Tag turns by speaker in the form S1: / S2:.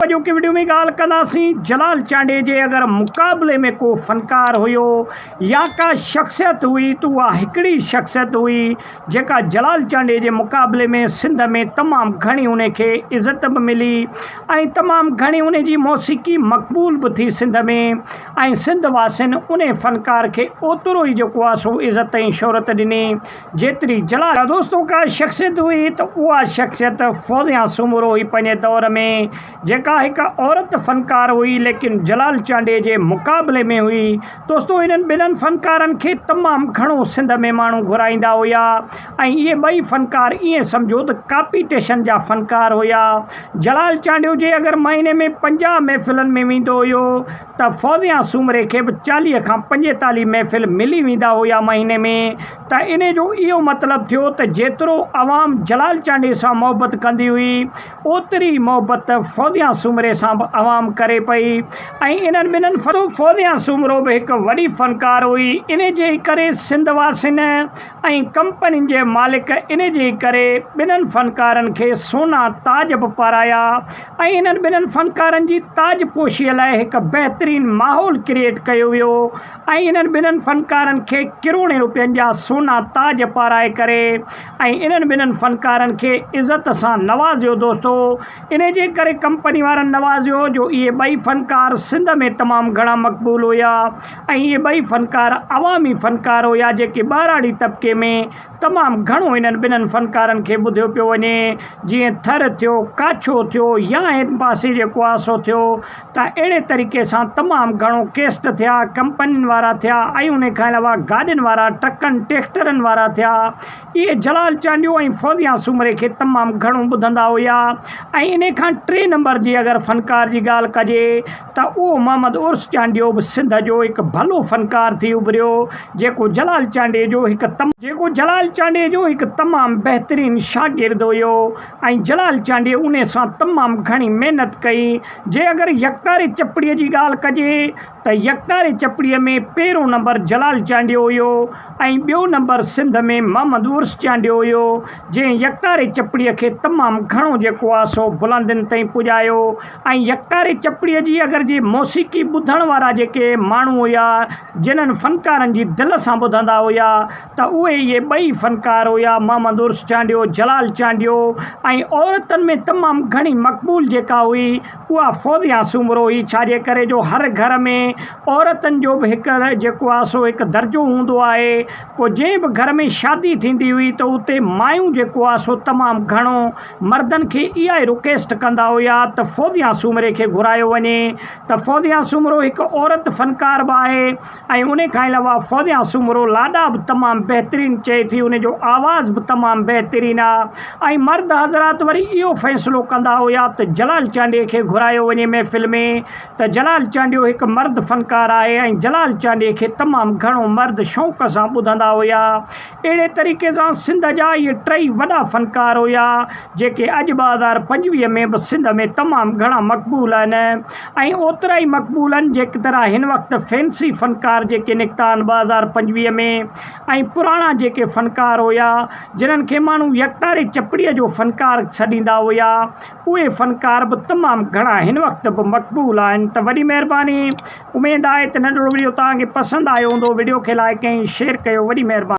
S1: اڄوڪي وڊيو ۾ ڳالهه ڪنداسين جلال چانڊيي جي اگر مقابلي ۾ ڪو فنڪار هيو يا ڪا شخصيت هئي ته اها هڪڙي ئي شخصيت هئي جيڪا جلال چانڊيي جي مقابلي ۾ سنڌ ۾ تمام گهڻي انهي کي عزت به ملي ۽ تمام گهڻي انهي جي موسيقي مقبول به ٿي سنڌ ۾ ۽ سنڌ واسين انهي فنڪار کي اوترو ئي جيڪو آهي سو عزت ۽ شهرت ڏني جيتري جلا دوستو ڪا شخصيت هئي ته اها شخصيت فوزيا سومرو هئي پنهنجي دور ۾ جيڪا هڪ عورت فنڪار هئي ليڪن جلال چانڊيي جي مقابلي ۾ هئي دوستو هنن ٻنهن فنڪارن کي تمام گهڻو سنڌ ۾ ماڻهو گهرائيندا هيا ۽ اهي ٻئي فنڪار ايئن سمجهو ته ڪاپيٽيشن جا فنڪار هيا جلال چانڊيو جي اگر مهيني ۾ پنجاهه محفلن ۾ ويندو هيو ته فوزيان سومري کي به چاليهه کان پنجيتاليهه محفل ملي ويندا هيا مهيني ۾، ته انهي جو اهو مطلب ٿيو ته جيترو عوام جلال چانڊيي سان محبت ڪندي هئي، اوتري ئي محبت فوزيان سومري سان به عوام ڪري پئي ۽ انهن ٻنهن فوزيان سومرو به هڪ وڏي فنڪار هئي، انهي جي ئي ڪري سنڌ واسين ۽ ڪمپنين جي مالڪ انهي جي ئي ڪري ٻنهن فنڪارن کي سونا تاج به پارايا. ۽ انهن ٻنهن فنڪارن جي تاج پوشيء لاء هڪ بهترين ماحول ڪريئيٽ ڪيو ويو ۽ انهن ٻنهن فنڪارن کي ڪروڙين روپين جا سونا تاج پارائي ڪري ۽ انهن ٻنهن فنڪارن کي عزت سان نوازيو دوستو انهي جي ڪري ڪمپني وارن نوازيو جو اهي ٻئي فنڪار سنڌ ۾ تمام گهڻا مقبول هيا ۽ اهي ٻئي فنڪار عوامي فنڪار هيا جيڪي ٻهراڙي طبقي ۾ تمام گهڻو انهن ٻنهن فنڪارن کي ٻڌيو پيو وڃي، جيئن ٿر ٿيو، ڪاڇو ٿيو يا هن پاسي جيڪو آهي سو ٿيو، ته اهڙي طريقي سان تمام گهڻو ڪيسٽ ٿيا، ڪمپنين وارا ٿيا ۽ انهي کان علاوه گاڏين وارا، ٽرڪن، ٽيڪٽرن وارا ٿيا. اهي جلال چانڊيو ۽ فوزيان سومري کي تمام گهڻو ٻڌندا هيا ۽ انهي کان ٽي نمبر جي اگر فنڪار جي ڳالهه ڪجي، ته اهو محمد عرس چانڊيو به سنڌ جو هڪ ڀلو فنڪار ٿي اڀريو، جيڪو جلال چانڊيي جو هڪ. جيڪو جلال چانڊيي جو هڪ تمام بهترين شاگرد هيو ۽ جلال چانڊيي ان سان تمام گهڻي محنت ڪئي. جي اگر يڪتاري چپڙيء جي ڳالهه ڪجي ته يڪتاري چپڙيء ۾ پهريون نمبر جلال چانڊيو هيو ۽ ٻيو نمبر سنڌ ۾ محمد عرس چانڊيو هيو، جنهن يڪتاري چپڙيء کي تمام گهڻو جيڪو آهي سو بلندين تائين پڄايو. ۽ يڪتاري چپڙي جي اگر جي موسيقي ٻڌڻ وارا جيڪي ماڻهو هيا جنھن فنڪارن جي دل سان ٻڌندا هيا ته اهي اهي ٻئي فنڪار هيا محمد عرس چانڊيو جلال چانڊيو ۽ عورتن ۾ تمام گهڻي مقبول جيڪا هئي اها فوزيا سومرو هئي ڇاجي ڪري جو هر گهر ۾ عورتن جو به هڪ جيڪو آ سو هڪ درجو هوندو آهي پوء جنھن به گهر ۾ شادي ٿيندي هئي ته اتي مايون جيڪو آ سو تمام گهڻو مردن کي اها ئي رڪويسٽ ڪندا هيا ته فوزيا سومري کي گهرايو وڃي ته فوزيا سومرو هڪ عورت فنڪار به آهي ۽ ان کان علاوه فوزيا سومرو لاڏا به تمام بهترين چئي ٿي ان جو آواز به تمام بهترين آهي ۽ مرد حضرات وري اهو فيصلو ڪندا هيا ته جلال چانڊيي کي گهرايو وڃي محفل ۾ ته جلال چانڊيو هڪ مرد فنڪار آهي ۽ جلال چانڊيي کي تمام گهڻو مرد شوق سان ٻڌندا هيا اهڙي طريقي سان سنڌ جا اهي ٽئي وڏا فنڪار هيا جيڪي اڄ ٻه هزار پنجويهه ۾ به سنڌ ۾ تمام گهڻا مقبول آهن ۽ اوترا ئي مقبول آهن جيڪترا هن وقت فينسي فنڪار جيڪي نڪتا آهن ٻه هزار پنجويهه ۾ ۽ پراڻا جيڪي فنڪار هيا جنهن کي ماڻهو يڪتاري چپڙي جو فنڪار سڏيندا هيا اهي فنڪار به تمام گهڻا هن وقت به مقبول آهن ته وڏي مهرباني اميد آهي ته ننڍڙو وڊيو توهان کي پسند آيو هوندو وڊيو کي لائڪ ۽ شيئر ڪيو وڏي مهرباني.